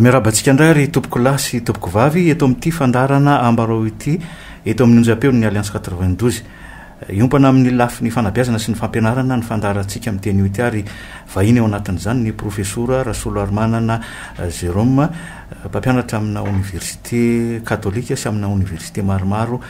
Miarahaba antsika indray ry tompokolahy sy tompokovavy eto amin'ity fandaharana Ambarao ity eto amin'ny onjam-peon'ny Alliance 92. Hiompana amin'ny lafiny fanabeazana sy ny fampianarana ny fandaharantsika amin'ny teny Oti ary vahiny ao anatin'izany ny Profesora Rasoloharimanana Jérôme, mpampianatra amina oniversite katolika sy amina oniversite maromaro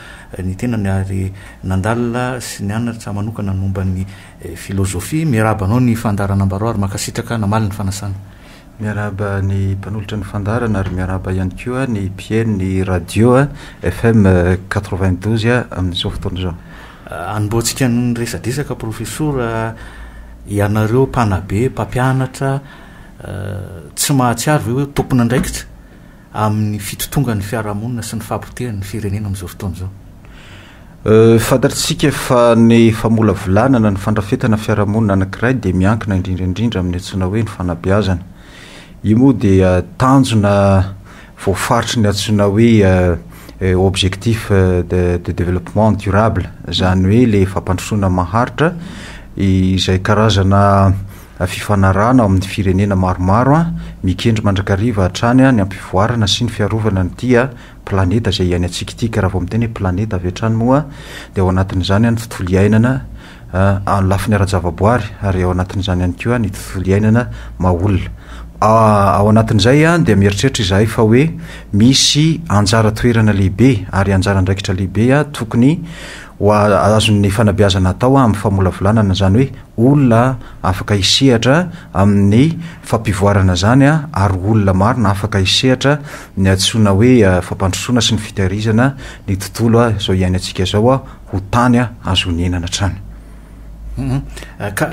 ny tenany ary nandalina sy nianatra manokana ny momba ny filôzôfia. Miarahaba anao ny fandaharana Ambarao ary mankasitraka namaly ny fanasana. Miarahaba ny mpanolotra ny fandaharana ary miarahaba ihany koa ny mpihainon'ny radio FM quatre-vingt-douze amin'izao fotoana izao. Hanombohantsika ny resadresaka Profesora, ianareo mpanabe, mpampianatra, tsy mahatsiaro ve hoe tompon'andraikitra? amin'ny fitotongan'ny fiarahamonina sy ny fahapotehan'ny ny firenena amin'izao fotoana izao. Fantatr'isika fa ny famolavolana na ny fandrafetana fiarahamonina anankiray dia miankina indrindra indrindra amin'ny antsoina hoe ny fanabeazana. Io moa dia tanjona voafaritry ny antsoina hoe objectif de de développement durable, izany hoe ilay fampandrosoana maharitra izay karazana fifanarahana ao amin'ny firenena maromaro mikendry mandrakariva hatrany ny hampivoarana sy ny fiarovana an'ity planeta izay iainantsika ity ka raha vao miteny hoe planeta avy hatrany moa dia ao anatin'izany ny tontolo iainana amin'ny lafiny ara-javaboary ary ao anatin'izany ihany koa ny tontolo iainana maha olona ao anatin'izay dia mieritreritra izahay fa hoe misy anjara toerana lehibe ary anjara andraikitra lehibe tokony ho azon'ny fanabeazana atao amin'ny famolavolana izany hoe olona afaka hisehatra amin'ny fampivoarana izany ary olona maro no afaka hisehatra ny antsoina hoe fampandrosoana sy ny fitahirizana ny tontolo izao iainantsika izao ho tany azo onenana hatrany. Ka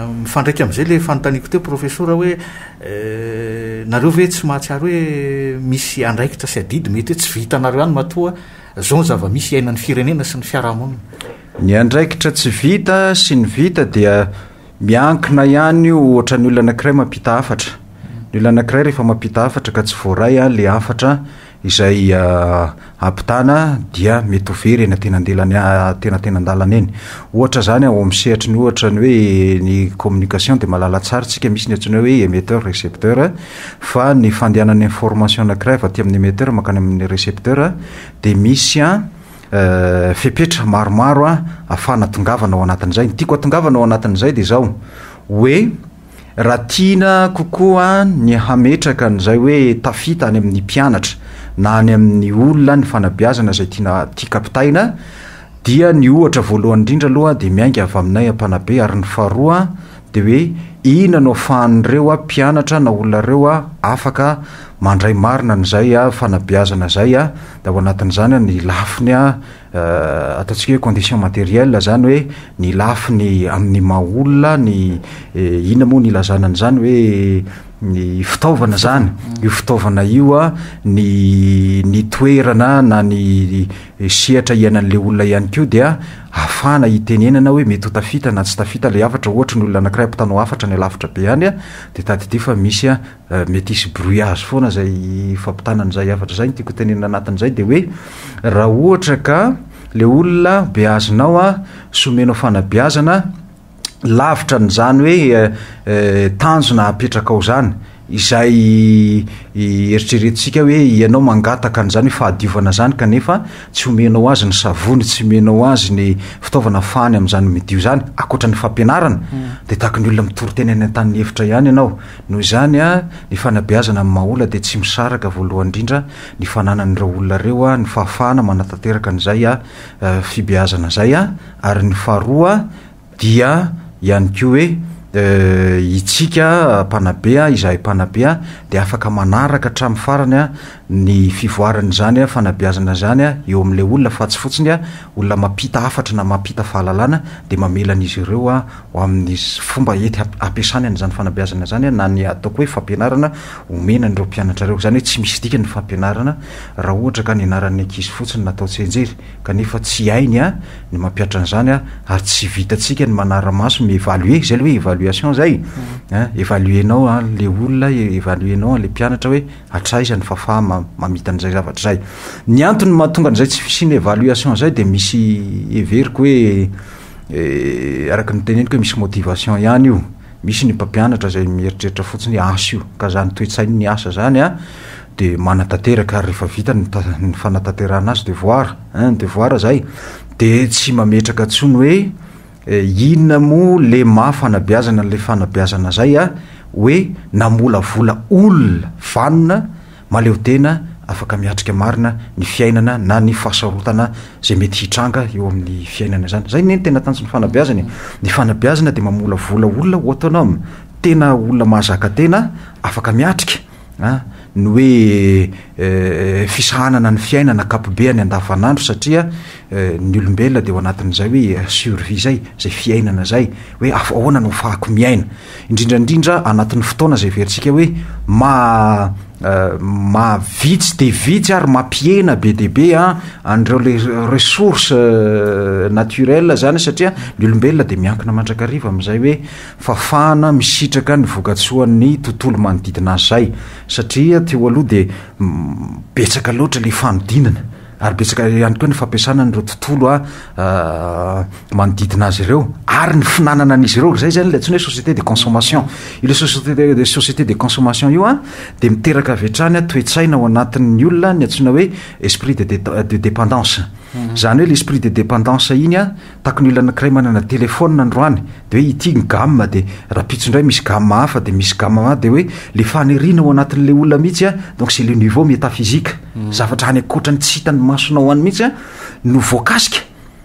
mifandraika amin'izay ilay fanontaniako teo Profesora hoe nareo ve tsy mahatsiaro hoe misy andraikitra sy adidy mety hoe tsy vitanareo ihany matoa izao ny zava-misy iainan'ny firenena sy ny fiarahamonina? Ny andraikitra tsy vita sy ny vita dia miankina ihany io ohatra ny olona anankiray mampita hafatra ny olona anankiray rehefa mampita hafatra ka tsy voaray a le hafatra izay ampitana dia mety ho very eny antenandelany atenatenandalana eny ohatra zany ao amin'ny sehatry ny ohatra ny hoe ny communication de mahalala tsara tsika misy ny antsoina hoe emetteur recepteur fa ny fandehanan'ny information anankiray avy aty amin'ny emetteur mankany amin'ny recepteur dia misy a Fepetra maromaro ahafahana atongavana ao anatin'izay. Ny tiako atongavana ao anatin'izay dia izao, hoe raha tiana kokoa ny hametraka an'izay hoe tafita any amin'ny mpianatra na any amin'ny olona ny fanabeazana izay tiana tiaka ampitaina dia ny ohatra voalohany indrindra aloha dia miainga avy aminay mpanabe ary ny faharoa Dia hoe ina no afahan'ireo mpianatra na olona ireo afaka mandray marina an'izay fanabeazana izay dia ao anatin'izany ny lafiny ataontsika hoe condition matérielle izany hoe ny lafiny amin'ny maha olona ny ina moa no ilazana an'izany hoe ny fitaovana izany io fitaovana io ny ny toerana na ny sehatra hiainan'ilay olona ihany koa dia ahafahana hitenenana hoe mety ho tafita na tsy tafita ilay hafatra, ohatra ny olona anakiray ampitanao hafatra any alavitra be any a, dia tadidio fa misy a mety hisy brouillage foana izay fampitana an'izay hafatra izay, ny tiako hotenenina anatin'izay dia hoe raha ohatra ka ilay olona beazinao a sy omenao fanabeazana, lavitra n'izany hoe tanjona apetrakao zany izay eritreretintsika hoe ianao mangataka an'izany fahadiovana zany kanefa tsy omenao azy ny savony tsy omenao azy ny fitaovana fahany amin'izany midio zany akoatra ny fampianarana mm. de tahaky ny olona mitory tena any an-tany ny efitra ihany ianao noho izany a ny fanabeazana amin'ny mahaola de tsy misaraka voalohany indrindra ny fananan'ireo olona ireo a ny fahafahana manatanteraka an'izay a fibeazana izay an, ary ny faharoa dia ihany koa hoe itsika mpanabe an, izahay mpanabe an, dia afaka manaraka hatramin'ny farany an ny fivoaran'izany fanabeazana izany an eo amin'ilay olona fa tsy fotsiny an olona mampita hafatra na mampita fahalalana dia mamela an'izy ireo an ho amin'ny fomba hety hampiasany an'izany fanabeazana izany an na ny ataoko hoe fampianarana omena an'ireo mpianatra ireo, izany hoe tsy misy dikany ny fampianarana Raha ohatra ka ny anaran'ny ankizy fotsiny no atao tsianjery, kanefa tsy hainy ny mampiatra an'izany ary tsy vitantsika ny manara-maso, mi-evaluer, izay ilay hoe evaluation izay, evaluer-nao an'ilay olona, evaluer-nao an'ilay mpianatra hoe hatraiza ny fahafahany mamita an'izay zavatra izay. Ny antony mahatonga an'izay tsy fisian'ny evaluation izay dia misy heveriko hoe, araka ny teneniko hoe misy motivation ihany io. Misy ny mpampianatra izay mieritreritra fotsiny hoe asa io, ka izany toe-tsain' ny asa izany dia manatanteraka ary rehefa vita ny ny fanatanterahana azy, devoir ein, devoir izay, dia tsy mametraka intsony hoe inona moa le maha fanabeazana an'ilay fanabeazana izay hoe namolavola olona vanona, mahaleotena, afaka miatrika marina ny fiainana na ny fahasarotana izay mety hitranga eo amin'ny fiainana izany. Izay anie ny tena tanjon'ny fanabeazana e! Ny fanabeazana dia mamolavola olona autonome, tena olona mahazaka tena, afaka miatrika an, ny hoe fisahanana ny fiainana ankapobehany andavanandro satria ny olombelona dia ao anatin'izay hoe survie izay, izay fiainana izay, hoe ahoana no ahafahako miaina. indrindra indrindra anatin'ny fotoana izay heverintsika hoe maha maha vitsy dia vitsy ary mampihena be dia be a an'ireo le ressource naturelle zany satria ny olombelona dia miankina mandrakariva amin'izay hoe fafana misitraka ny vokatsoan'ny tontolo manodidina azy zay satria teo aloha dia betsaka loatra le fanodinana ary betsaka ihany koa ny fampiasana an'ireo tontolo a manodidina azy ireo ary ny finanana an'izy ireo izay zany le antsoina hoe société de consommation io le société de société de consommation io a de miteraka avy hatrany a toe-tsaina ao anatin'ny olona ny antsoina hoe esprit de de dépendance zany hoe le esprit de dépendance iny a Taky ny olona anakiray manana telephone androany de hoe ity ny gamme de rapitso indray misy gamme hafa de misy gamme hafa de hoe le faniriana ao anatin'ilay olona mihitsy a donc c'est le niveau métaphysique zavatra any ankoatran'ny tsy hitan'ny masonao any mihitsy a no voakasika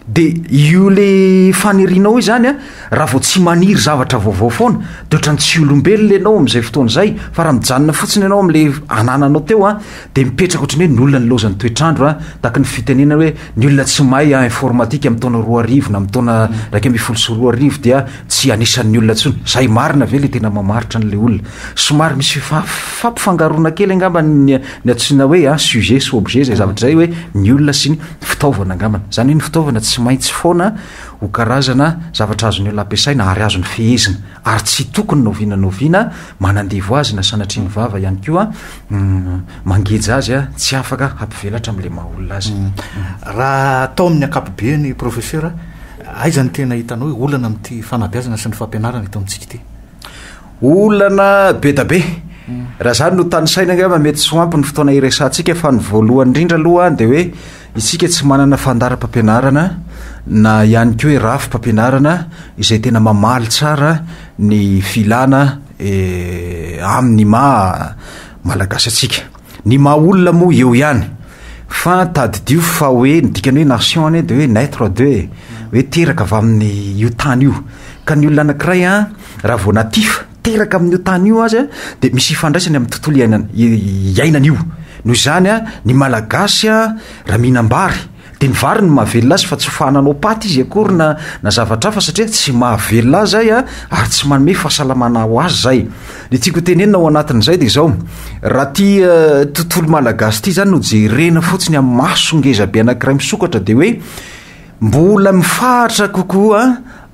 de io le fanirianao io zany a raha vao tsy maniry zavatra vaovao foana de ohatrany tsy olombelona ianao amin'izay fotoana izay fa raha mijanona fotsiny ianao amin'le anananao teo a Dia mipetraka ohatran'ny hoe ny olona nilaozan'ny toetr'andro a! Tahaka ny fitenenana hoe ny olona tsy mahay a informatika amin'ny taona roa arivo na amin'ny taona iraika ambin'ny folo sy roa arivo dia tsy anisan'ny olona intsony. Izay marina ve ilay tena mamaritra an'ilay olona? Somary misy fifa- fampifangaroana kely angamba ny ny antsoina hoe a sujet sy objet izay zavatra izay hoe ny olona sy ny fitaovana angambany. Izany hoe ny fitaovana tsy maintsy foana ho karazana zavatra azon'ny olona ampiasaina ary azony fehezina ary tsy tokony na oviana na oviana manandevo azy na sanatria ny vava ihany koa mangeja azy a tsy afaka hampivelatra amle maha olona azy raha atao amin'ny ankapobeny professeur aiza ny tena hitanao hoe olana amin'ity fanabeazana sy ny fampianarana eto amintsika ity olana be da be raha zany no tanisaina angamba mety tsy ho ampy ny fotoana iresantsika fa ny voalohany indrindra aloha dia hoe isika tsy manana fandaram-pampianarana na ihany koa hoe rafim-pampianarana izay tena mamaly tsara ny filana eh, amin' ny maha malagasy antsika ny maha olona moa eo ihany fa tadidio fa hoe ny dikany hoe nation anie de hoe naitre de hoe hoe teraka avy amin' ny io tany io ka ny olona anakiray a raha vao natifa teraka amin' io tany io azy a de misy ifandraisany amin'ny tontolo iainana i- iainana io noho izany a ny malagasy a raha mihinam-bary Dia ny vary no mahavelona azy fa tsy ho fahananao paty izy akory na na zavatra hafa satria tsy mahavelona azy zay a, ary tsy manome fahasalamana ho azy zay. Ny tiako ho tenenina ao anatin'izay dia izao, raha ty tontolo malagasy ity zany no jerena fotsiny amin'ny maso ngezabe anankiray misokatra dia hoe mbola mifahatra kokoa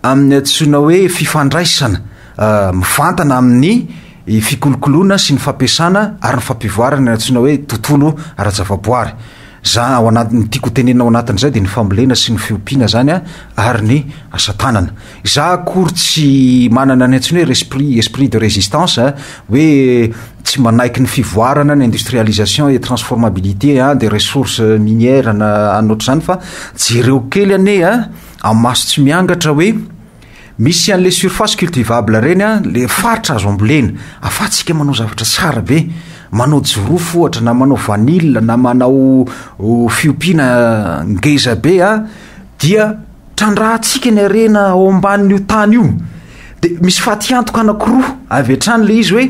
amin'ny antsoina hoe fifandraisana mivantana amin'ny fikolokoloana sy ny fampiasana ary ny fampivoarana ny antsoina hoe tontolo ara-javaboary. Zah ao anaty, ny tiako hotenenina ao anatin'izay dia ny fambolena sy ny fiompiana zany an, ary ny asa tanana. Zah akory tsy manana ny antsoina hoe resprit, esprit de résistance an, hoe tsy manaiky ny fivoarana, ny industrialisation et transformabilité an, des ressources minières na anona ohatr'izany fa jereo kely anie an, amin'ny maso tsy miangatra hoe, Misy anle surface cultivable ireny an, le faritra azo ambolena, afatsika manao zavatra tsara be, manao jirofo ohatra na manao vanille na manao fiompiana ngeza be an, dia trandrahantsika ny harena ao ambanin'io tany io, de misy fatiantoka anakiroa avy hatrany le izy hoe,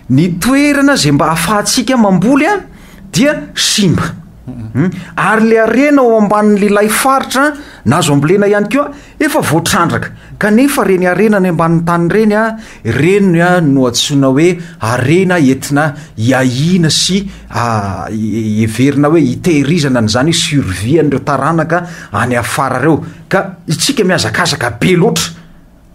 ny toerana izay mba afahantsika mamboly an dia simba, ary le harena ao ambanin'ilay faritra na azo ambolena ihany koa, Efa voatrandraka, kanefa reny harena any ambanin'ny tany ireny a, ireny no antsoina hoe harena entina hiahiana sy heverina hoe hitehirizana an'izany hoe survie an'ireo taranaka any afara ireo. Ka isika mihazakazaka be loatra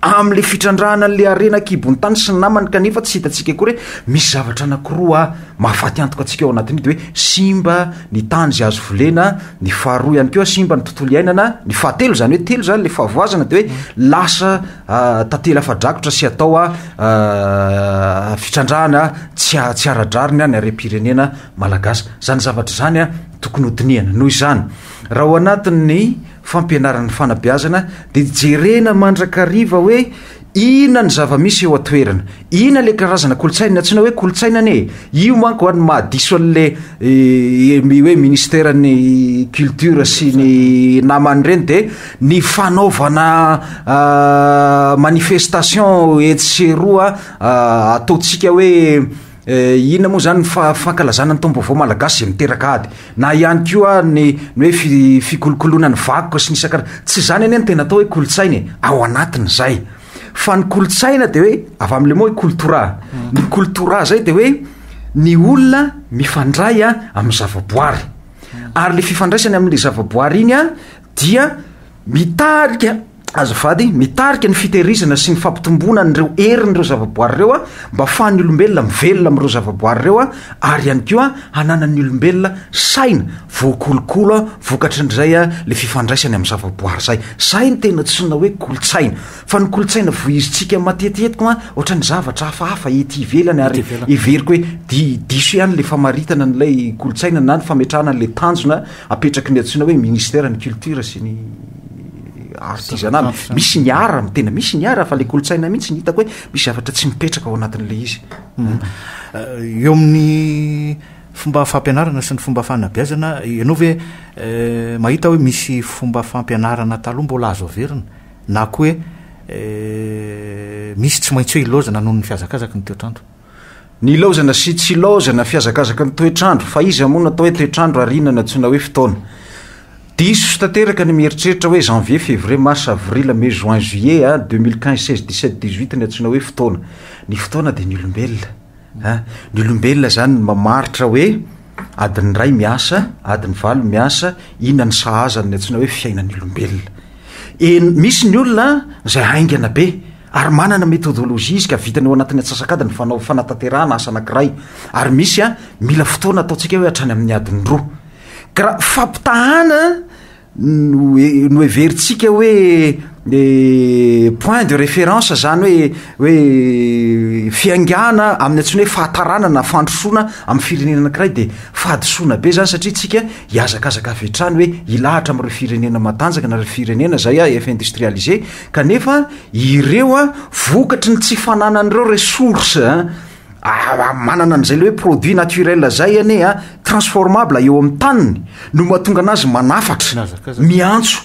amin'ilay fitrandrahana an'ilay harena an-kibon'ny tany sy ny namany kanefa tsy hitantsika akory hoe misy zavatra anankiroa mahafaty antoka antsika ao anatin'io dia hoe simba ny tany izay azo volena, ny faharoa ihany koa simba ny tontolo iainana, ny fahatelo izany hoe telo izany le fahavoazana dia hoe lasa ah, tantely afa-drakotra sy atao ah, ah, fitrandrahana tsy ah, tsy ara-drariny ny harem-pirenena malagasy. Izany zavatra izany ah, tokony ho dinihana. Noho izany, raha ao anatin'ny fampianaran'ny fanabeazana dia jerena mandrakariva hoe Inona ny zava-misy eo an-toerana? Inona ilay karazana kolontsaina? Ny antsoina hoe kolontsaina anie e! Io manko no mahadiso an'ilay hoe Ministeran'ny Culture sy ny namany ireny dia ny fanaovana manifestation etsy sy eroa ataontsika hoe Eh, inona moa izany ny fa- fankalazana ny taom-baovao malagasy izay miteraka ady? Na ihany koa ny ny hoe fi- fikolokoloana ny vakoka sy ny isan-karazany. Tsy izany anie ny tena atao hoe kolontsaina e, ao anatin'izay. Fa ny kolontsaina dia hoe avy amin'ny le mot hoe koltora. Ny koltora izay dia hoe ny olona mifandray a amin'ny zavaboary. Ary le fifandraisany amin'ilay zavaboary iny a dia mitarika Azafady, mitarika ny fitehirizana sy ny fampitomboana an'ireo herin'ireo zavaboary ireo mba hafahan'ny olombelona mivelona amin'ireo zavaboary ireo ary ihany koa hananan'ny olombelona saina voakolokolo vokatry ny izay ilay fifandraisany amin'ny zavaboary izay. Izay no tena antsoina hoe kolontsaina. Fa ny kolontsaina voahizintsika matetitetika ohatran'ny zavatra hafahafa ety ivelany ary heveriko hoe di- diso ihany ilay famaritana an'ilay kolontsaina na ny fametrahana an'ilay tanjona apetraky ny antsoina hoe Ministeran'ny Culture sy ny artisanal misy ny ara ny tena misy ny ara fa le kolotsaina mihitsy ny hitako hoe misy zavatra tsy mipetraka ao anatin'la izy hmm. eh, eo amin'ny fomba fampianarana sy ny fomba fanabeazana ianao ve eh, mahita hoe misy fomba fampianarana taloha mbola azo averina na ko hoe eh, misy tsy maintsy hoe ilaozana noho ny fihazakazaky ny toetrandro Nilaozana sy tsy ilaozana, fihazakazaky ny toetr'andro, fa iza moa no atao hoe toetr'andro ary inona no antsoina hoe fotoana? Diso tanteraka ny mieritreritra hoe janvier, février, mars, avril, mai, juin, juillet, a, deux mille quinze, seize, dix sept, dix huit ny antsoina hoe fotoana. Ny fotoana dia ny olombelona. An, ny olombelona izany no mamaritra hoe Adiny iray miasa, adiny valo miasa, inona ny sahaza ny antsoina hoe fiainan'ny olombelona. Eny, misy ny olona izay haingana be ary manana methodologie izy ka vitany ao anatin'ny antsasakadiny fanao fanatanterahana asa anankiray ary misy a mila fotoana ataontsika hoe hatrany amin'ny adiny roa. Ka raha fampitahana noheverintsika hoe point de référence izany hoe hoe fiaingàna amin'ny antsoina hoe fahataràna na fandrosoana amin'ny firenena anankiray dia fahadisoana be izany satria isika hihazakazaka avy hatrany hoe hilahatra amin'ireo firenena matanjaka na ireo firenena izay efa industrialisé kanefa ireo vokatry ny tsy fananan'ireo ressources Ah, manana an'izay le hoe produit naturel zay anie a transformable eo amin'ny taniny no mahatonga anazy manafatra Mihazakazaka. miantso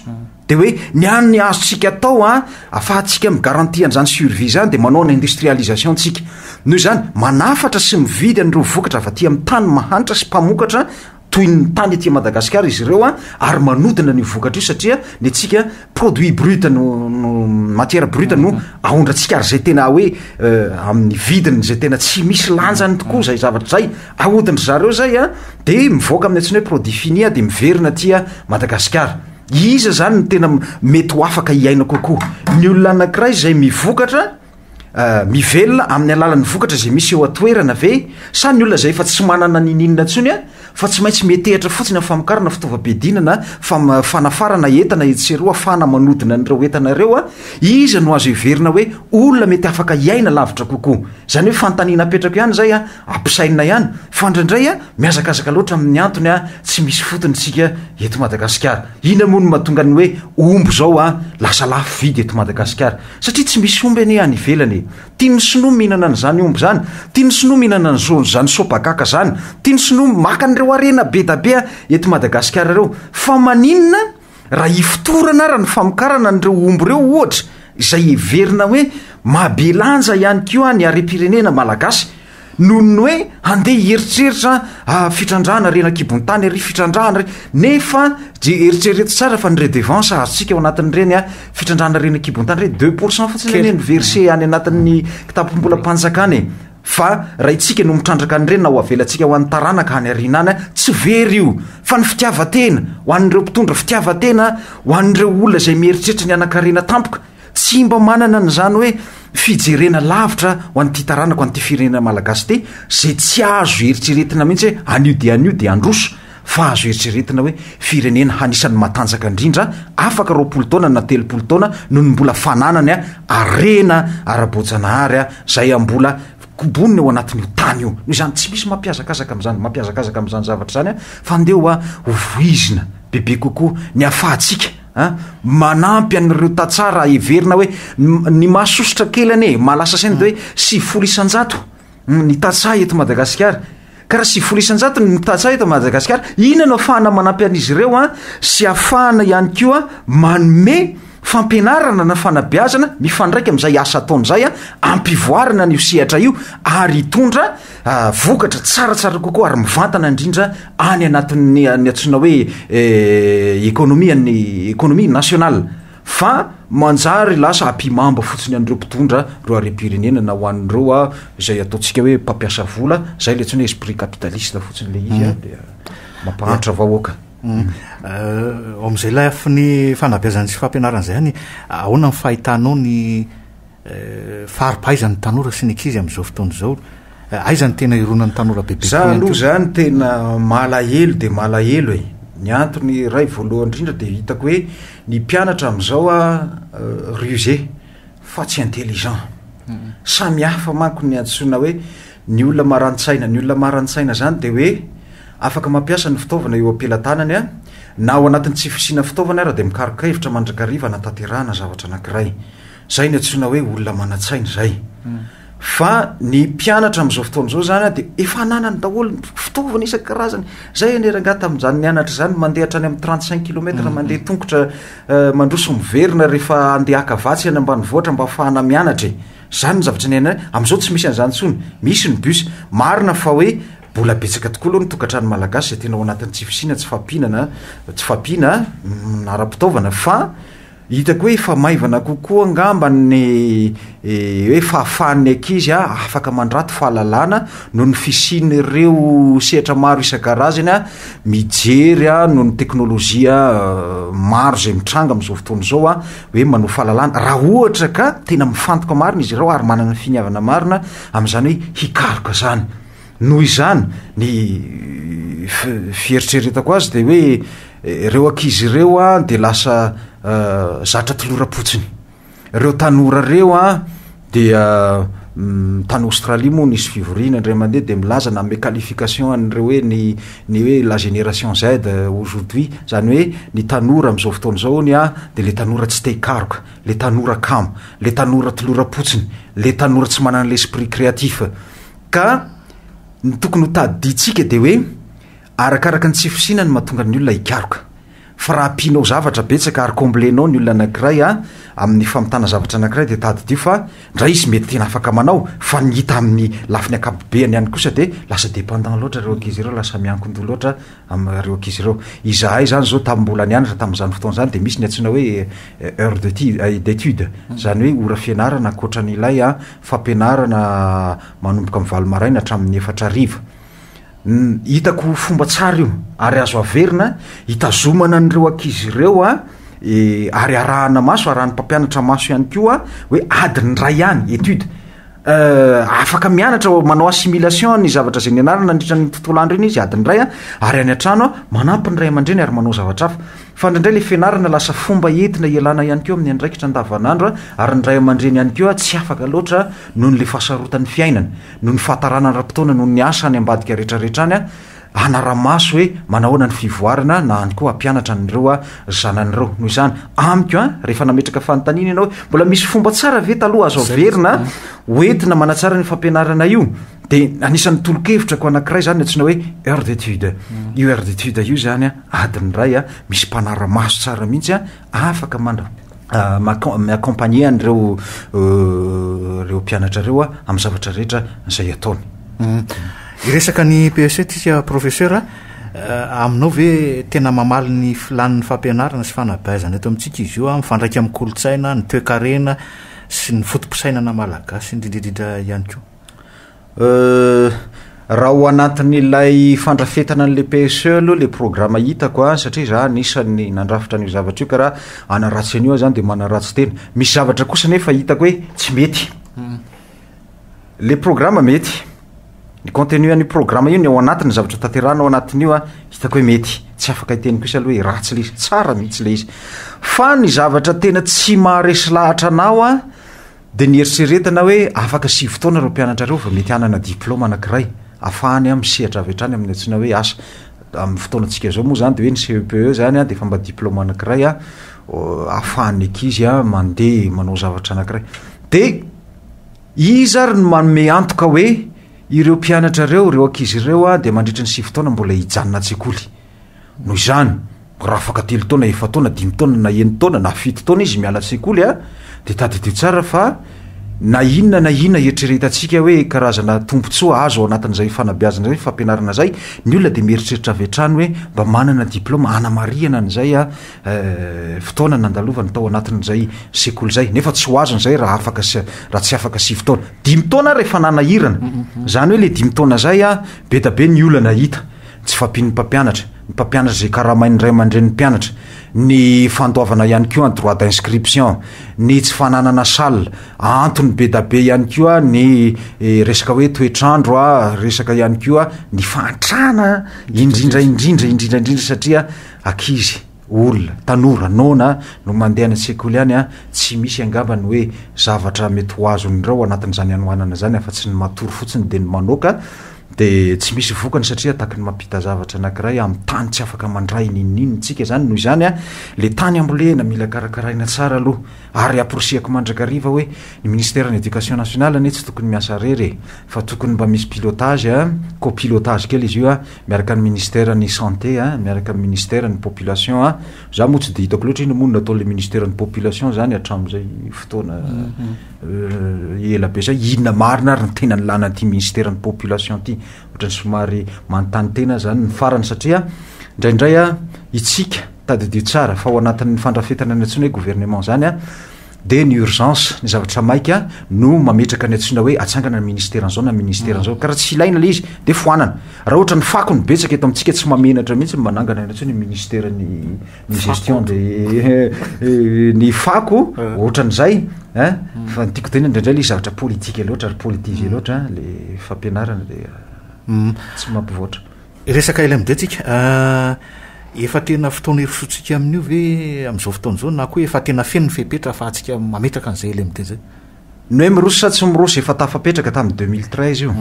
de hoe ny any ny azontsika atao a afahantsika migarantie an'izany survie zany de manao ny industrialisation ntsika noho izany manafatra sy mividy an'ireo vokatra avy aty amin'ny tany mahantra sy mpamokatra toy ny tany aty Madagasikara izy ireo ary manodina an'io vokatra io satria ny antsika produit brut no no matière brute no mm-hmm. aondrantsika ary izay tena hoe euh, amin'ny vidiny izay tena tsy misy lanjany tokoa izay zavatra izay ahodin-dry zareo izay a dia mivoaka amin'ny antsina hoe produit fini a dia miverina aty Madagasikara iza izany ny tena mety ho afaka hiaina kokoa ny olona anankiray izay mivokatra mivelona amin'ny alalan'ny vokatra izay misy eo an-toerana ve sa ny olona izay efa tsy manana niniana intsony a fa tsy maintsy metehitra fotsiny amin'ny famokarana fitaovam-piadiana na fam- fanafarana entana etsy sy eroa afahana manodina an'ireo entana ireo a iza no azo heverina hoe olona mety afaka hiaina lavitra kokoa izany hoe fanontaniana apetrako ihany izay a Ampisainina ihany fa indraindray a mihazakazaka loatra amin'ny antony a tsy misy fotony isika eto Madagasikara. Inona moa no mahatonga ny hoe omby izao a lasa lafo vidy eto Madagasikara? Satria tsy misy omby anie any ivelany e! Tian'ny sinoa mihinana an'izany omby izany, tian'ny sinoa mihinana an'izany sopagaka izany, tian'ny sinoa maka an'ireo harena be da be a eto Madagasikara ireo. Fa maninona Raha hifotorana ara ny famokarana an'ireo omby ireo ohatra izay heverina hoe mahabelanja ihany koa ny harem-pirenena malagasy noho ny hoe handeha hieritreritra ah, fitrandrahana reny an-kibon-tany ary fitrandrahana re nefa je eritrereto tsara fa ny redevance azontsika ao anatin'ireny ah, fitrandrahana reny an-kibon-tany re deux pourcent fotsiny anie ny verse any anatin'ny kitapom-bolam-panjakana e. Fa raha itsika no mitrandraka an'ireny na ho avelantsika ho an'ny taranaka any aoriana any, tsy very io. Fa ny fitiavan-tena, ho an'ireo mpitondra fitiavan-tena, ho an'ireo olona izay mieritreritra ny hanan-karena tampoka, tsy mba manana an'izany hoe fijerena lavitra ho an'ity taranako, an'ity firenena malagasy ity, izay tsy azo eritreretina mihitsy hoe anio dia anio dia handroso. Fa azo eritreretina hoe firenena hanisany matanjaka indrindra afaka roapolo taona na telopolo taona noho ny mbola fananany harena ara-boajanahary izay ambola kobonina eo anatin' io tany io. Noho izany tsy misy mampiazakazaka amin' izany mampiazakazaka amin' izany zavatra izany fa ndeha ho ho voizina bebe kokoa ny hafahantsika a! Manampy an' ireo tantsaha raha heverina hoe ny mahasosotra kely anie mahalasa saina dia hoe sivifolo isan-jato ny tantsaha eto Madagasikara. Ka raha sivifolo isan-jato ny tantsaha eto Madagasikara, inona no afahana manampy an'izy ireo an sy afahana ihany koa manome fampianarana na fanabeazana mifandraika amin'izay asa ataony izay an, ampivoarana an'io sehatra io ary hitondra vokatra tsaratsara kokoa ary mivantana indrindra any anatin'ny antsoina hoe ekonomia ny ekonomia nationale. fa manjary lasa apimamba fotsiny an'ireo mpitondra ireo harem-pirenena na ho an'ireo a izay ataontsika hoe mpampiasa vola zay le tsny hoe esprit capitaliste fotsiny le izy a mm. dia mampahantra vahoaka mm. euh, ao amin'izay lafiny fanabeazany sy fampianaran'izay any ahoana ny fahitanao ny Fa ary aiza ny tanora sy ny ankizy amin'izao fotoana izao? Aiza ny tena ironan'ny tanora bebe koa ihany koa? Za aloha zany tena malahelo dia malahelo e! Ny antony iray voalohany indrindra dia hitako hoe ny mpianatra amin'izao a rusé fa tsy intelligent. Samy hafa manko ny antsoina hoe ny olona maran-tsaina. Ny olona maran-tsaina zany dia hoe afaka mampiasa ny fitaovana eo am-pelatanany a, na ao anatin'ny tsy fisiana fitaovana ara dia mikaroka hevitra mandrakariva hanatanterahana zavatra anankiray. Izay no antsoina hoe olona manan-tsaina izay. Fa ny mpianatra amin'izao fotoana izao izany dia efa ananany daholo ny fitaovana isan-karazany. Izay anie rangaha tamin'izany nianatra izany mandeha hatrany amin'ny 35 kilomètre mhm. mandeha tongotra eh, mandroso miverina rehefa andeha haka vatsy any ambanivohitra mba afahana mianatra e. Izany ny zavatra niainana. Amin'izao tsy misy an'izany intsony. Misy ny bus. Marina fa hoe bola betsaka tokoa aloha ny tokantrano malagasy izay tena ao anatin'ny tsy fisiana, tsy fampihinana, tsy fampiana mm, ara-pitaovana fa Hitako hoe efa maivana kokoa angamba ny hoe fahafahan'ny ankizy afaka mandrato fahalalana noho ny fisian'ireo sehatra maro isan-karazany mijery noho ny teknolojia maro izay mitranga amin'izao fotoana izao hoe manohy fahalalana raha ohatra ka tena mifantoka marina izy ireo ary manana finiavana marina amin'izany hoe hikaroka izany. Noho izany, ny fieritreretako azy dia hoe ireo ankizy ireo an dia lasa zatra toloram-potsiny. Ireo tanora ireo an dia tany Australie moa nisy fivoriana indray mandeha dia milaza nanome qualification an'ireo hoe ny ny hoe la génération Z aujourd'hui, izany hoe ny tanora amin'izao fotoana izao hono an dia ilay tanora tsy te hikaroka, ilay tanora kamo, ilay tanora toloram-potsiny, ilay tanora tsy manana l'esprit créatif. Ka ny tokony ho tadidintsika dia hoe arakaraka ny tsy fisiana no mahatonga ny olona hikaroka. Fa raha ampianao zavatra betsaka ary combler-nao ny olona anankiray amin'ny famitana zavatra anankiray dia tadidio fa ndray izy mety tena afaka manao fa ny hita amin'ny lafiny ankapobeany ihany kosa dia lasa dependant loatra ireo ankizy ireo, lasa miankin-doha loatra ireo ankizy ireo. Izahay izany izao tamin'ny mbola nianatra tamin'izany fotoana izany dia misy ny antsoina hoe heures de d'études, izany hoe ora fianarana ankoatra an'ilay fampianarana manomboka amin'ny valo maraina hatramin'ny efatra hariva. Hitako ho fomba tsara io ary azo averina hitazomana an'ireo ankizy ireo a e, ary arahana maso, arahan'ny mpampianatra maso ihany koa hoe adiny iray ihany étude. Euh, afaka mianatra manao assimilation ny zavatra izay nianarana nandritra ny tontolo andro iny izy adiny iray a, ary any an-trano a manampy ny ray aman-dreny ary manao zavatra hafa. Fa indraindray ilay fianarana lasa fomba entina ialana ihany koa amin'ny andraikitra andavanandro ary ny ray aman-dreny ihany koa tsy afaka loatra noho ilay fahasarotan'ny fiainana, noho ny fahatarana ara-potoana noho ny asa any ambadika rehetrarehetra any hanara-maso hoe manahoana ny fivoarana na any koa hampianatra an'ireo zanany ireo. Noho izany, amiko an, rehefa nametraka fanontaniana ianao hoe mbola misy fomba tsara ve taloha azo averina ho entina manatsara ny fampianarana io dia anisan'ny tolo-kevitrako anankiray izany ny antsoina hoe heure d'étude. Io heure d'étude io izany an, Adiny iray a, misy mpanara-maso tsara mihitsy a, afaka mandra- ma- mi-accompagner an'ireo ireo mpianatra ireo a, amin'ny zavatra rehetra izay ataony. Hiresaka ny PEC isika Professeur a, aminao ve tena mamaly ny filàn'ny fampianarana sy fanabeazana eto amintsika izy io a, mifandraika amin'ny kolontsaina, ny toekarena sy ny foto-pisainana malagasy indrindra indrindra ihany koa? Raha ao anatin'ilay fandrafetana an'ilay PSE aloha ilay programa hitako a, satria izaho anisan'ny nandrafitra an'io zavatra io ka raha hanaratsy an'io aho izany dia manaratsy tena. Misy zavatra kosa nefa hitako hoe tsy mety. Ilay programa mety, ny contenu an'io programa io, ny ao anatiny, ny zavatra tanterahina ao anatin'io a, hitako hoe mety. Tsy afaka hiteny kosa aloha hoe ratsy ilay izy, tsara mihitsy ilay izy. Fa ny zavatra tena tsy maharesy lahatra anao a, Dia nieritreretana aho hoe afaka sivy taona ireo mpianatra ireo vao mety hanana diplaoma anankiray afahany an misehatra avy hatrany amin'ny antsoina hoe asa. Amin'ny fotoanantsika izao moa izany dia hoe ny CEPE izany an dia efa mba diplaoma anankiray an ahafahan'ny ankizy an mandeha manao zavatra anankiray. Dia iza ary no manome antoka hoe ireo mpianatra ireo, ireo ankizy ireo an dia mandritra ny sivy taona mbola hijanona an-tsekoly? Noho izany, raha afaka telo taona, efa taona, dimy taona na eny taona na fito taona izy miala an-tsekoly a, dia tadidio tsara fa na inona na inona hieritreretantsika hoe karazana tombontsoa azo ao anatin'izay fanabeazana izay, fampianarana izay, ny olona dia mieritreritra avy hatrany hoe mba manana diplaoma hanamarihana an'izay fotoana nandalovany tao anatin'izay sekoly izay. Nefa tsy ho azony izay raha afaka raha tsy afaka sivy taona. Dimy taona ary efa nanahirana. Izany hoe ilay dimy taona izay a, be dia be ny olana hita. Tsy fahampian'ny mpampianatra. Ny mpampianatra izay karamain'ny ray aman-drenin'ny mpianatra. Ny fandoavana ihany koa ny droit d'inscription. Ny tsy fananana salle. Antony be da be ihany koa ny resaka hoe toetr'andro, resaka ihany koa ny fahantrana indrindra indrindra indrindra indrindra satria ankizy. olona, tanora, noana no mandeha any an-tsekoly any an, tsy misy angamba ny hoe zavatra mety ho azon'ireo ao anatin'izany hanoanana izany afa-tsy ny matory fotsiny dia ny manoaka dia tsy misy vokany satria ataky ny mampita zavatra anakiray amin'ny tany tsy afaka mandray n'inon'inona, tsika izany noho izany an, ilay tany ambolena mila karakaraina tsara aloha. Ary amporisihako mandrakariva hoe ny ministère ny éducation nationale anie tsy tokony miasa rery e! fa tokony mba misy pilotage a, copilotage kely izy io a, miaraka ny ministère ny santé a, miaraka ny ministère ny population a, za moa tsy de hitako loatra inona moa no nataon'le ministère ny population zany hatram'zay fotoana ela be zay, inona marina ary ny tena nilana an'ity ministère ny population ity? ohatrany somary manontany tena aho zany ny farany satria ndraindray a itsika Tadidio tsara fa ao anatin'ny fandrafetana ny antsoina hoe gouvernement izany dia ny urgence, ny zavatra maika no mametraka ny antsoina hoe atsangana ny ministère an'izao na ministère an'izao. Ka raha tsy ilaina ilay izy dia foanana. Raha ohatra ny fako no betsaka eto amintsika tsy mamenatra mihitsy ny manangana ny antsoina hoe ministère ny ny gestion dia ny fako ohatran'izay eh fa ny tiako tenenina indraindray ilay izy zavatra politique loatra ary politisé loatra ilay fampianarana dia tsy mampivoatra. Resaka LMD tsika. Efa tena fotoana hirosoantsika amin'io ve amin'izao fotoana izao na koa efa tena feno ny fepetra ahafahantsika mametraka an'izay LMD izay? Ny hoe miroso sa tsy miroso, efa tafapetraka tamin'ny deux mille treize io,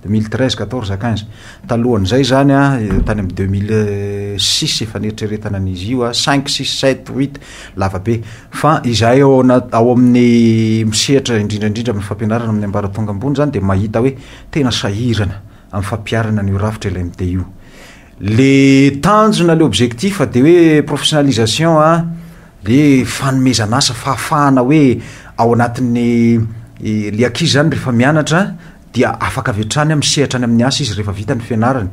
deux mille treize, quatorze à quinze. Talohan'izay izany an, tany amin'ny deux mille six efa neritreretana ny izy io, cinq, six, sept, huit, lava be. Fa izahay ao anaty, ao amin'ny misehatra indrindra indrindra amin'ny fampianarana amin'ny ambaratonga ambony izany dia mahita hoe tena sahirana amin'ny fampiharana an'io rafitra LMD io. Le tanjona, le objectif dia hoe professionalisation a, le fanomezana asa, fahafahana hoe ao anatin'ny le ankizy zany rehefa mianatra dia afaka avy hatrany a misehatra any amin'ny asa izy rehefa vita ny fianarany.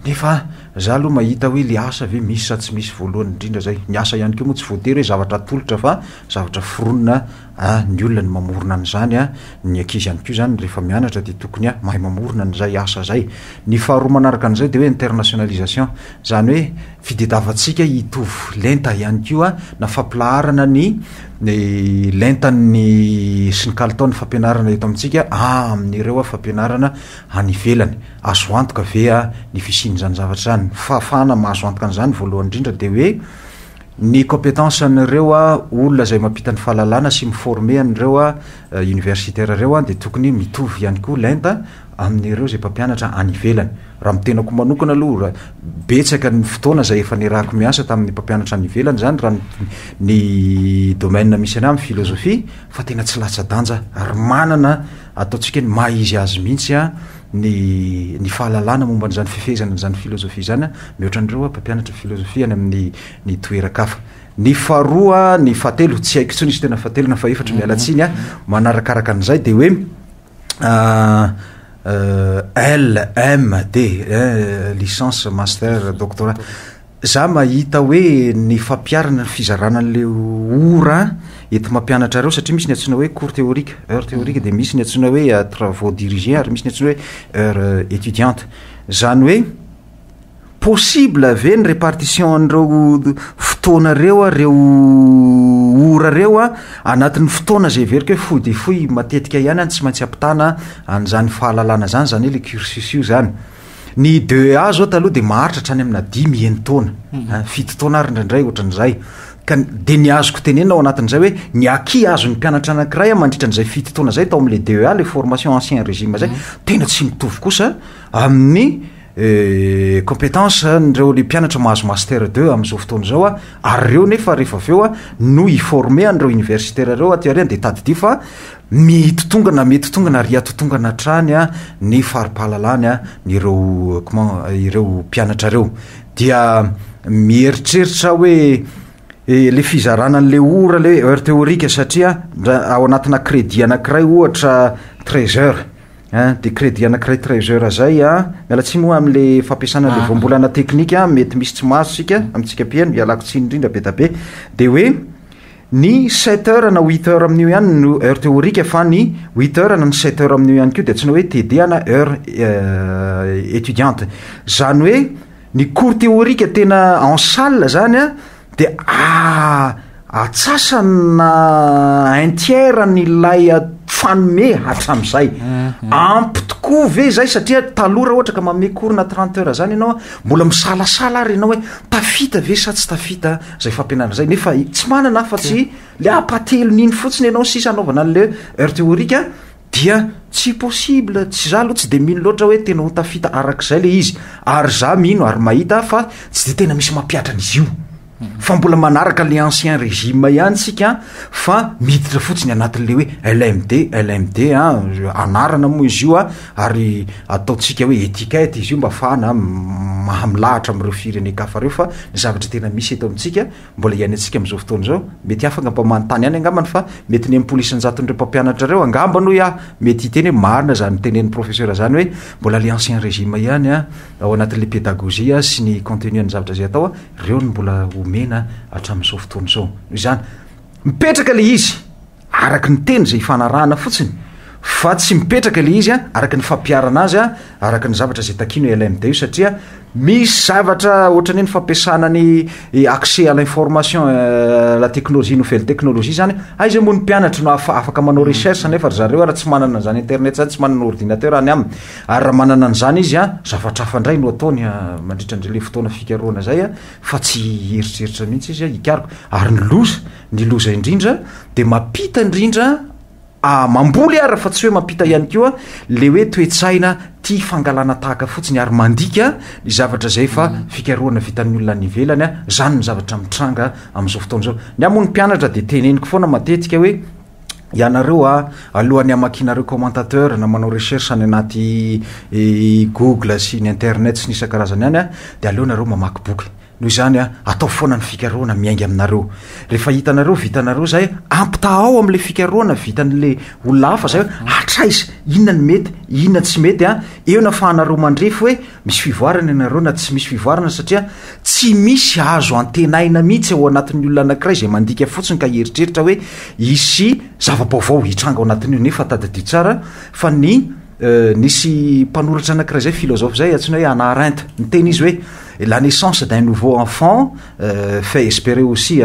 Nefa za aloha mahita hoe le asa ve misy sa tsy misy voalohany indrindra zay. Ny asa ihany koa moa tsy voatery hoe zavatra atolotra fa zavatra foronina A, Ny olona no mamorona an'izany a! Ny ankizy ihany koa izany rehefa mianatra dia tokony a, mahay mamorona an'izay asa izay. Ny faharoa manaraka an'izay dia hoe internationalisation. Izany hoe fitdiavantsika hitovy lenta ihany koa na fampilaharana ny ny lentan'ny sy ny kalitaon'ny fampianarana eto amintsika amin'ireo fampianarana any ivelany. Azo antoka ve a ny fisian'izany zavatra izany? Ny fahafahana mahazo antoka an'izany voalohany indrindra dia hoe, Ny compétence an'ireo olona izay mampita ny fahalalana sy mi-former an'ireo universitaires ireo dia tokony mitovy ihany koa lenta amin'ireo izay mpampianatra any ivelany. Raha ny tenako manokana aloha, betsaka ny fotoana izay efa niarahako miasa tamin'ny mpampianatra any ivelany izany raha ny domaine misy an'ahy amin'ny philosophie fa tena tsy latsa-danja ary manana ataontsika hoe ny maha-izy azy mihitsy ny ny fahalalana momba an'izany fifehezana an'izany filozofia izany a, mihoatra an'ireo a, mpampianatra filozofia any amin'ny ny toeran-kafa. Ny faharoa, ny fahatelo, tsy haiko intsony izy tena fahatelo na fahefatry, miala tsiny a, manarakaraka an'izay dia hoe LMD, licence, master, doctorat. Za mahita hoe ny fampiharana ny fizarana anle ora entimampianatra reo satria misy ny antsoina hoe cours théorique, heure théorique, dia misy ny antsoina hoe travaux dirigés ary misy ny antsoina hoe heure étudiante. Zany hoe possible ve ny répartition an'ireo fotoana reo a, reo ora reo a, anatin'ny fotoana zay heveriko hoe fohy dia fohy matetika ihany an, tsy maintsy ampitana an'izany fahalalana zany, zany hoe le cursus io zany. Ny DEA zao taloha dia maharitra hatrany amina dimy enin-taona, mhm. fito taona ary indraindray ohatran'izay. Ka dia ny azoko tenenina ao anatin'izay hoe ny aki azon'ny mpianatra anankiray mandritra an'izay fito taona izay tao amin'ilay DEA, le formation ancien régime izay, mhm. tena tsy mitovy kosa amin'ny eh, compétence an'ireo le mpianatra mahazo master deux amin'izao fotoana izao a, ary ireo nefa rehefa avy eo a no i-former an'ireo universitaire ireo aty aoriana dia tadidio fa Mitotongana, mety tongana ary hatotongana hatrany ny fari-pahalalany ny ireo ireo mpianatra ireo. Dia mieritreritra hoe ilay fizarana an'ilay ora ilay hoe heure théorique satria ao anatina crédit anankiray ohatra treize heures ein, dia crédit anankiray treize heures izay an, miala tsiny moa amin'ilay fampiasana an'ilay voambolana teknika mety misy tsy mahazo isika amintsika mpihaino, ialako tsiny indrindra be dia be, dia hoe. Ny sept heures na huit heures amin'io ihany no heure théorique fa ny huit heures na ny sept heures amin'io ihany koa dia antsoina hoe TD na heure étudiante. Izany hoe ny cours théorique tena en salle izany an dia atsasana un tiers an'ilay fanome hatramin'izay. Ampy tokoa ve izay satria taloha raha ohatra ka manome cours na trente heures izany ianao an, mbola misalasala ary ianao hoe tafita ve sa tsy tafita an? zay fampianarana zay nefa tsy manana afa tsy le apatelon'iny fotsiny ianao sisa anaovana an'le heure théorique a dia tsy possible tsy za aloha tsy de mino loatra hoe tena ho tafita arak'izay le izy ary za mino ary mahita fa tsy de tena misy mampiatra an'izy io fa mbola manaraka le ancien régime ihany tsika fa miditra fotsiny anatin'le hoe lmd lmd a anarana moa izy io a ary ataontsika hoe etiquette izy io mba afahana maha milahatra amin'ireo firenen-kafa ireo fa ny zavatra tena misy eto amintsika mbola iainantsika amin'izao fotoana izao mety hafa angamba manontany ihany angambany fa mety ny enimpolo isan-jaton'ireo mpampianatra ireo angamba noho aho mety hiteny hoe marina izany tenen'ny professeur izany hoe mbola le ancien régime ihany a ao anatin'ilay pédagogie sy ny contenu an'ny zavatra izay atao a ireo ny mbola omena hatramin'izao fotoana izao noho izany mipetraka le izy Araky ny teny izay ifanarahana fotsiny fa tsy mipetraka ilay izy araky ny fampiharana azy araky ny zavatra izay takianao ialahy midao io satria misy zavatra ohatrany hoe ny fampiasana ny accès à l'information la technologie nouvelle technologie izany aiza moa ny mpianatry no afa- afaka manao recherche nefa ry zareo ary tsy manana an'izany internet izany tsy manana ordinateur any aminy ary raha manana an'izany izy a zavatra hafa indray no ataony a mandritra an'izay le fotoana fikarohana izay a fa tsy hieritreritra mihitsy izy a hikaroka ary ny loza Ny loza indrindra dia mampita indrindra ah mamboly ara fa tsy hoe mampita ihany koa le hoe toe-tsaina tia fangalana tahaka fotsiny ary mandika ny zavatra izay efa fikarohana vitan'ny olona any ivelany ah zany ny zavatra mitranga amin'izao fotoana izao ny ahy moa ny mpianatra dia teneniko foana matetika hoe ianareo ah alohan'ny hamakianareo commentateur na manao recherche any anaty google sy ny internet sy ny isan-karazany any ah dia aleonareo mamaky boky Noho izany, ataovy foana ny fikarohana miainga aminareo. Rehefa hitanareo vitanareo izay, ampitahao amin'ilay fikarohana vitan'ilay olona hafa izay hoe hatraiza, inona ny mety, inona tsy mety. Eo ny ahafahanareo mandrefy hoe misy fivoarana ianareo na tsy misy fivoarana, satria tsy misy azo antenaina mihitsy ao anatin'ny olona anankiray izay mandika fotsiny ka hieritreritra hoe hisy zava-baovao hitranga ao anatin'io, nefa tadidio tsara fa ny Nisy mpanoratra anankiray zay, philosophe zay, antsoina hoe Hannah Arendt. Niteny izy hoe, la naissance d'un nouveau enfant fait esperer aussi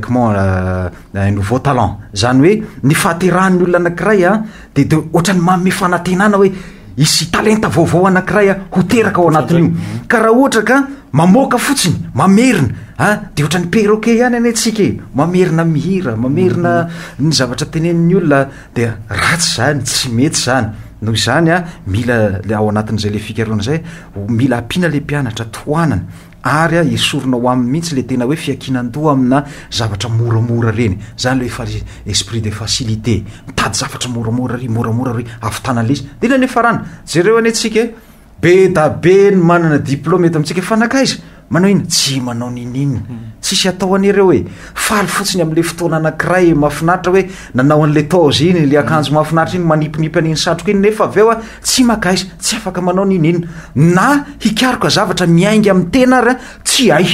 comment un nouveau talent. Zany hoe, ny fahaterahan'ny olona anankiray an, dia dia ohatran'ny manome fanantenana hoe, hisy talenta vaovao anankiray an, ho teraka ao anatin'io. Ka raha ohatra ka mamoaka fotsiny, mamerina an, dia ohatran'ny perroquet ihany anie tsika e, mamerina mihira, mamerina ny zavatra teneniny olona, dia ratsy zany tsy mety zany noho izany a mila le ao anatin'izay le fikaroana zay mila ampiana le mpianatra tohanana ary a esorina ho aminy mihitsy le tena hoe fiakinan-doha amina zavatra moramora reny zany le efa esprit de facilité mitady zavatra moramora ry moramora ry avitana lesy de le le farana jereo anie tsika e Be da be ny manana diplôme eto amintsika fa nankaiza? Manao inona? Tsy manao niniana. Tsisy atao an'ireo e. Faly fotsiny amin'ilay fotoana anankiray e, mahafinaritra hoe nanao an'ilay toge iny, ilay akanjo mahafinaritra iny, manipinipy an'iny satroka iny nefa avy eo a, tsy mankaiza, tsy afaka manao niniana. Na hikaroka zavatra miainga amin'ny tena ary a, tsy hay.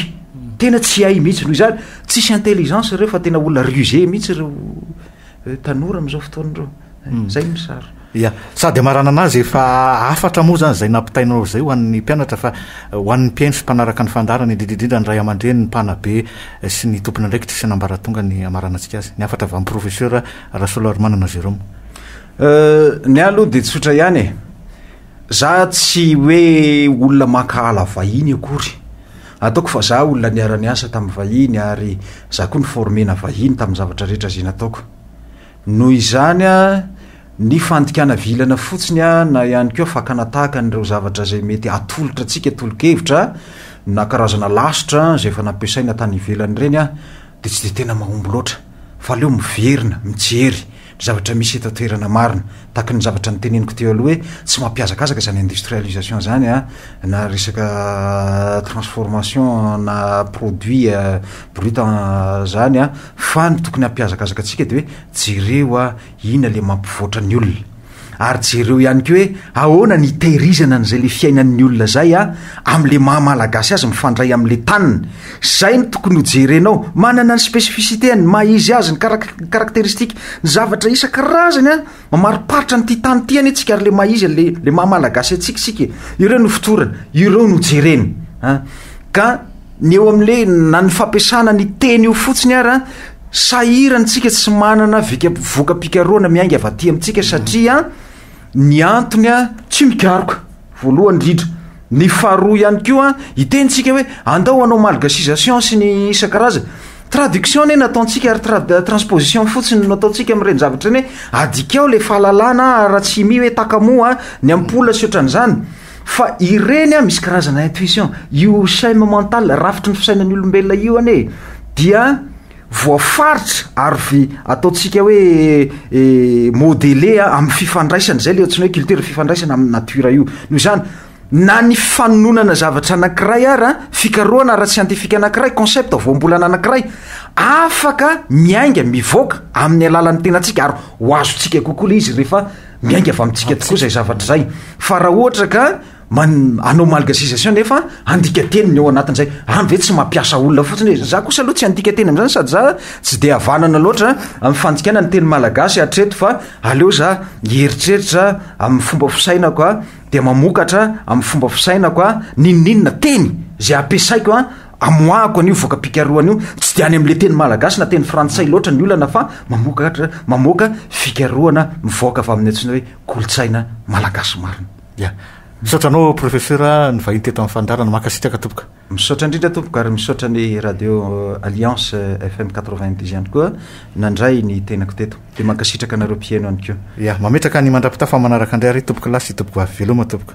Tena tsy hay mihitsy. Noho izany, tsisy intelligence ireo fa tena olona rusé mihitsy ireo tanora amin'izao fotoana ireo. Hmm. Zay ny sary. Ya, sady amarana anazy efa hafatra moa zany zay nampitainao zay ho an'ny mpianatra fa eh, ho an'ny mpihaino sy mpanaraka ny fandaharana indrindra indrindra ny ray aman-dreny, ny mpanabe eh, sy ny tompon'andraikitra sy nambaratonga ny amaranantsika azy. Ny hafatra avy amin'ny professeur Rasoloarimanana Jérôme. Euh, ny ahy aloha dia tsotra ihany e. Za tsy hoe olona mankahala vahiny akory. Ataoko fa za olona niara-niasa tamin'ny vahiny ary za koa niformena vahiny tamin'ny zavatra rehetra izay nataoko. Noho izany, ny fandikana vilana fotsiny na ihany koa fakana tahaka an'ireo zavatra izay mety atolotra antsika tolo-kevitra na karazana lasitra izay efa nampiasaina tany ivelany ireny dia tsy dia tena mahomby loatra fa aleo miverina mijery ny zavatra misy eto an-toerana marina tahaka ny zavatra noteneniko teo aloha hoe tsy mampiazakazaka izany industrialisation izany na resaka transformation na produit brut izany Fa ny tokony hampihazakazaka antsika dia hoe jereo a ina le mampivoatra ny olona. Ary jereo ihany koa hoe ahoana ny itehirizana an'izay le fiainan'ny olona zay a amle maha malagasy azy mifandray amle taniny. Zay no tokony ho jerenao. Manana ny specificité-ny, ny maha izy azy, ny karak-karakteristika, ny zavatra isan-karazany a. Mamariparitra an'ity tany ity anie tsika ary le maha izy le le maha malagasy antsika isika e. Ireo no fotorana, ireo no jereny. An. Ka ny eo amin'le na ny fampiasana ny teny io fotsiny ara sahirany tsika tsy manana vika voka-pikarohana miainga avy aty amintsika satria ny antony a tsy mikaroka. Voalohany indrindra. Ny faharoa ihany koa, hiteny isika hoe andao hanao malgacisation sy ny isan-karazany. Traduction anie no ataontsika ary trad- transposition fotsiny no ataontsika amin'ireny zavatra ireny hoe adikao ilay fahalalana raha tsy mi hoe takamoa ny ampola sy ohatran'izany. Fa ireny a, misy karazana intuition. Io scheme mental, rafitry ny fisainan'ny olombelona io anie dia. voafaritra ary ve ataontsika hoe modeler amin'ny fifandraisana, izay ilay antsoina hoe culture, fifandraisana amin'ny nature io. Noho izany, na ny fanononana zavatra anankiray ara, fikarohana ara-tsiantifika anankiray, concept voambolana anankiray, afaka miainga, mivoaka amin'ny alalan'ny tenantsika ary ho azontsika kokoa ilay izy rehefa miainga avy amintsika tokoa izay zavatra izay. Fa raha ohatra ka Man, anao malgasisation nefa andika teny ny ao anatin' izay. Any ve tsy mampiasa olona fotsiny hoe, za kosa aloha tsy andika teny amin'izany sady za tsy dia havanana loatra amin'ny fandikana ny teny malagasy hatreto fa aleo za hieritreritra amin'ny fomba fisainako a, dia mamokatra amin'ny fomba fisainako a, n'inon'inona teny izay ampiasaiko a, amoahako an'io voka-pikarohana io. Tsy dia any amin'ilay teny malagasy na teny frantsay loatra ny olana fa mamokatra, mamoaka fikarohana mivoaka avy amin'ny antsoina hoe kolontsaina malagasy marina. Ya. Misaotra anao Professeur nivahiny teto amin'ny fandaharana. Mankasitraka tompoko. Misaotra indrindra tompoko ary misaotra ny Radio Alliance FM quatre vingt dix ihany koa nandray ny tenako teto. Dia mankasitraka anareo mpiheno ihany koa. Ya. Mametraka ny mandrapitafa amin'ny manaraka indray ary tompoko lahy sy tompoko vavy. Veloma tompoko.